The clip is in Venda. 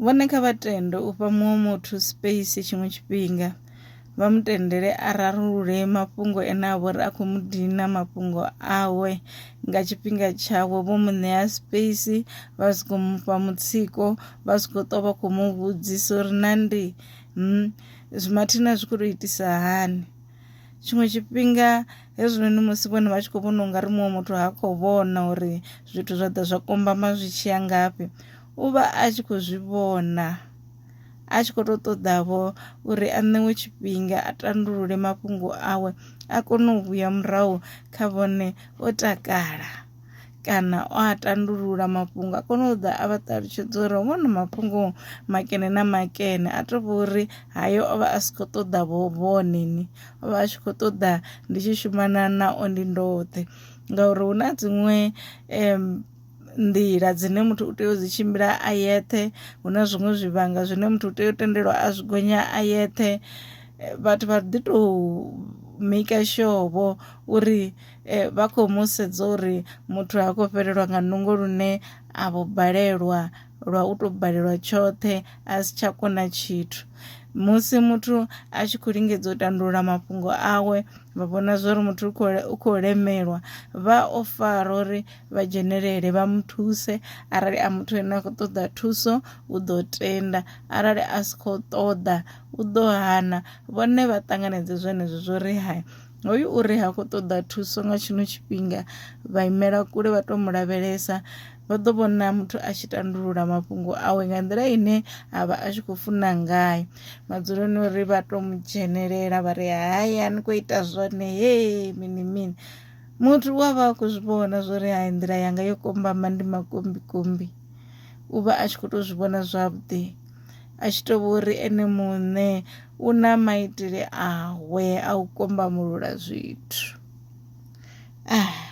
Vhone kha vha tende u fha muṅwe muthu space tshiṅwe tshifhinga vha mu tendele a rarulule mafhungo ene a vhori a khou mu dina mafhungo awe nga tshifhinga tshawe vho mu ṋea space vha si khou mufha mutsiko vha si khou ṱwa vha khou mu vhudzisa uri na ndi hmm, mathina zwi khou tou itisa hani tshiṅwe tshifhinga hezwinoni musi vhone vha tshi khou vhona ungari muṅwe muthu ha khou vhona uri zwithu zwa ḓa zwa kombama zwi tshiya ngafhi u vha a tshi khou zwi vhona a tshi khou tou ṱoḓavho uri a ṋewe tshifhinga a tandulule mafhungo awe a kone u vhuya murahu kha vhone o takala kana o a tandulula mafhungo a kone u ḓa a vha ṱalutshedza uri hovhona mafhungo makene na makene a tou vha uri hayo o vha a si khou ṱoḓa vho vhoneni o vha a tshi khou ṱoḓa ndi tshi shumana na o ndi ndoṱhe ngauri hu na dziṅwe nḓila dzine muthu u tea u dzi tshimbila a yeṱhe hu na zwiṅwe zwivhanga zwine muthu u tea u tendelwa a zwi gonya a yeṱhe eh, vhathu vha ḓi tou maker sure vho uri eh, vha khou mu sedza uri muthu ha khou fhelelwa nga nungo lune a vho balelwa lwa u tou balelwa tshoṱhe a si tsha kona tshithu musi muthu a tshi khou lingedza u tandulula mafhungo awe vha vhona zwori muthu u khou lemelwa vha o fara uri vha dzhenelele vha mu thuse arali a muthu ane a khou ṱoḓa thuso u ḓo tenda arali a si khou ṱoḓa u ḓo hana vhone vha ṱanganedze zwenezwo zwo ri hai hoyu uri ha khou ṱoḓa thuso nga tshino tshifhinga vha imela kule vha tou mu lavhelesa vha ḓo vhona muthu a tshi tandulula mafhungo awe nga nḓila ine a vha a tshi khou funa ngayo madzuloni uri vha tou mu dzhenelela vha ri hai a ni khou ita zwone hee mini mini muthu u a vha a khou zwi vhona zwo ri hai nḓila yanga yo kombama ndi makombikombi u vha a tshi khou tou zwi vhona zwavhuḓi a tshi tou vho ri ene muṋe u na maitele awe a u kombamulula zwithu ah.